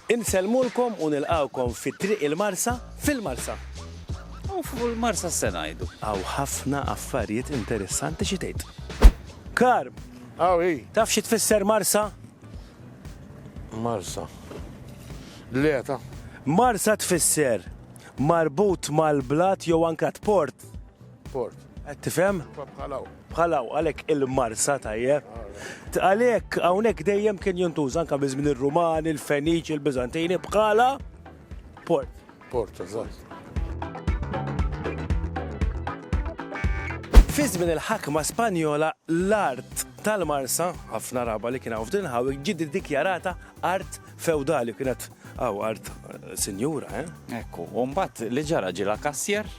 Insellmulkom u nilqgħukom fi Triq il-Marsa fil-Marsa. U fuq il-Marsa x'se ngħidu? Hawn ħafna affarijiet interessanti xi tgħid? Karm! Hawn hi! Taf xi tfisser Marsa? Marsa. Dlieta. Marsa tfisser marbut mal-blat jew anke t-port. Port. Qed tifhem? Bħalaw. Bħalaw, għalhekk il-marsa tajjeb. Għalhekk hawnhekk dejjem kien jintuża anke minn żmien ir-Rumani, il-Feniċi, il-Biżantini bħala port. Port, eżatt. Fi żmien il-ħakma Spanjola l-art tal-Marsa, ħafna raba li kien hawn f'din ħawik, ġiet iddikjarata art feudali kienet għaw art eh, sinjura, eh? Ekku, u mbagħad li ġara ġila kassier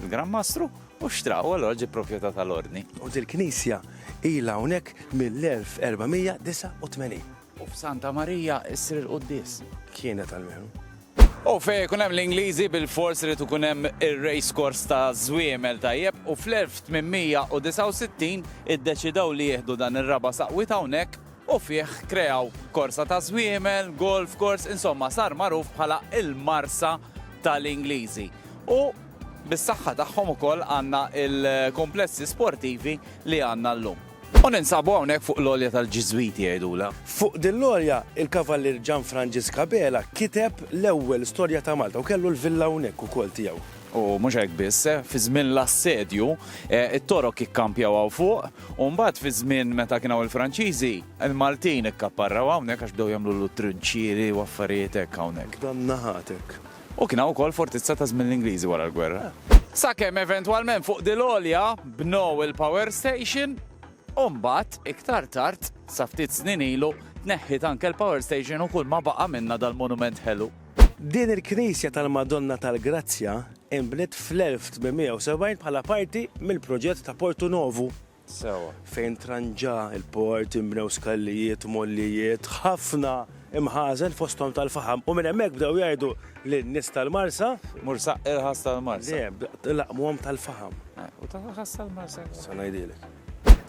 Il-Gran Mastru u xtra u allura ġie proprjetà tal-Ordni. U dil-knisja ilha hawnhekk mill-1489. U f'Santa Marija ssir il-quddies. Kienet almenu. U fejn ikun hemm l-Ingliżi bilfors irid ikun hemm ir-race course ta' żwiemel tajjeb u fl-1869 iddeċidew li jieħdu dan ir-raba' saqwiet hawnhekk. u fih kreaw korsa ta' żwiemel, golf course, insomma sar magħruf bħala l-Marsa tal-Ingliżi. U bis-saħħa tagħhom ukoll għandna l-kumplessi sportivi li għandna llum. U ninsabu hawnhekk fuq l-għolja tal-Ġiżwiti jgħidulha. Fuq din l-għolja, il-Kavallier Gian Frangisk Abela kiteb l-ewwel storja ta' Malta u kellu l-villa hawnhekk ukoll tiegħu. U mhux hekk biss, fi żmien l-assedju, it-Torok ikkampjaw hawn fuq, U mbagħad fiż-żmien meta kien hawn il-Franċiżi, il-Maltin ikkapparraw hawnhekk għax bdew jagħmlulu trinċieri u affarijiet hekk hawnhekk. F'dan naħat hekk. U kien hawn ukoll fortizza ta' żmien l-Ingliżi wara l-gwerra. Sakemm eventwalment fuq Dil Għolja bnew il-power station u mbagħad iktar tard, sa ftit snin ilu, tneħħiet anke l-power station u kulma baqa' minnha dal-monument ħelu. Din il-knisja tal-Madonna tal-Grazzja inbniet fl-1870 bħala parti mill-proġett ta' Portu Novu. Sewwa. Fejn tranġa l-port, inbnew skallijiet, mollijiet, ħafna imħażen fosthom tal-faħam u minn hemmhekk bdew jgħidu lin-nies tal-Marsa. Mursa irħas tal-Marsa. Le, laqqmuhom tal-faħam. U tal-irħas tal-Marsa. Sa ngħidilek.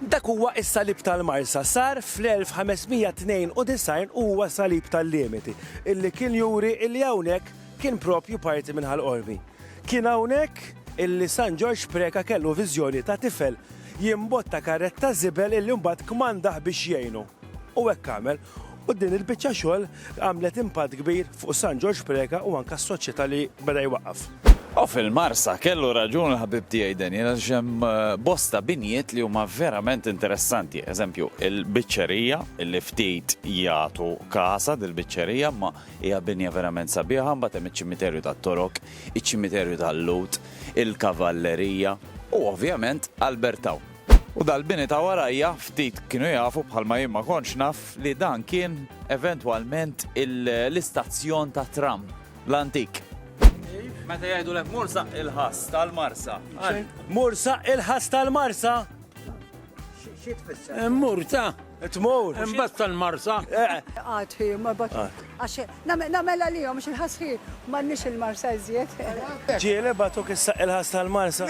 Dak huwa s-salib tal-Marsa. Sar fl-1592 u huwa salib tal-limiti, illi kien juri illi hawnhekk kien propju parti minn Ħal Qormi. Kien hawnhekk illi San Ġorġ Preca kellu viżjoni ta' tifel jimbotta karretta żibel illi mbagħad kmandah biex jgħinu. U hekk għamel. U din il-biċċa xogħol għamlet impatt kbir fuq San Ġorġ Preca u anke s-soċjetà li beda jwaqqaf. U fil-Marsa, kellu raġun il-ħabib tiegħi Daniel għax hemm eh, bosta binjiet li huma verament interessanti. Eżempju, il-biċċerija li ftit jagħtu kasa dil-biċċerija ma hija binja verament sabiħa, mbagħad hemm iċ-ċimiterju tat-Torok, iċ-ċimiterju tal-Lut, il-Kavallerija u ovvjament Albertaw. U dal-bini ta' warajja ftit kienu jafu, bħalma jien ma kontx naf, li dan kien eventwalment l-istazzjon tat-tram l-antik. Meta jgħidulek mur saqq il-ħass tal-Marsa. Mur saqq il-ħass tal-Marsa? Xi tfisser? Immur ta'. Tmur. Imbagħad tal-Marsa. Qatt hi, ma bat. Għax nagħmel għalihom xi ħass hi m'għandniex il-Marsa iżjed. Ġieli bagħtuk is-saqq il-ħass tal-Marsa.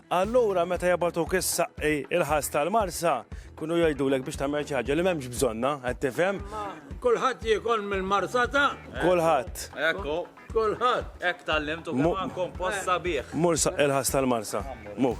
Allura meta jabagħtuk is-saqqi il-ħass tal-Marsa, kienu jgħidulek biex tagħmel xi ħaġa li m'hemmx bżonnha, qed tifhem? Kulħadd jiekol mill-marsata? Kulħadd. Ekku. Kulħadd. Hekk tgħallimt u kompost sabiħ. Mur saqqi l-ħass tal-Marsa. Mur.